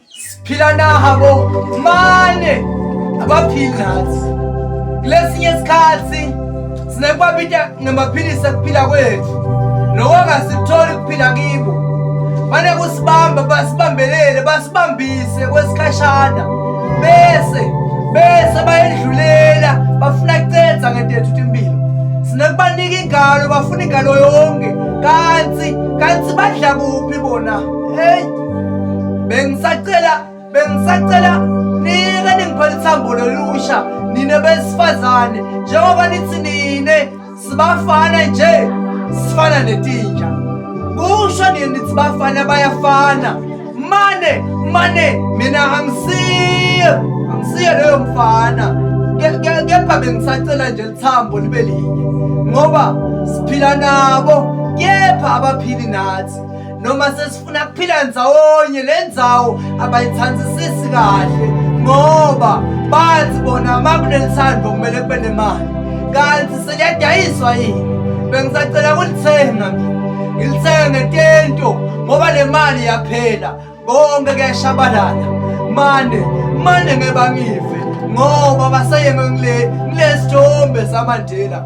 siphila nabo mane abaphili nathi kulesinye isikhathi sinekwabita ngamaphilisi akuphila kwethu loko angasikutholi ukuphila kibo mane kusibamba basibambelele basibambise kwesikhashana bese bese bayedlulela bafuna kucenza ngetethu timpilo sinekubanika ingalo bafuna ingalo yonke kanti kanti badla kuphi bona heyi bengisacela bengisacela nike ningiphela ithambo lolusha nine besifazane njengoba nithi nine sibafana nje sifana netinja kusho nini nithi bafana bayafana mane mane mina angisiye angisiye leyo mfana kepha bengisacela nje lithambo libe linye ngoba siphila nabo kepha abaphili nathi noma funa kuphila ndzawonye le ndzawo abayithandisisi kahle ngoba bathi bona uma kunelithando kumele kube nemali kanti seliyadayiswa yini bengisacela kulithenga mina ngilithenge ngentento ngoba le mali yaphela konke kuyashabalala mane mane ngeba ngive ngoba baseyeme ngile ngilesithombe samandela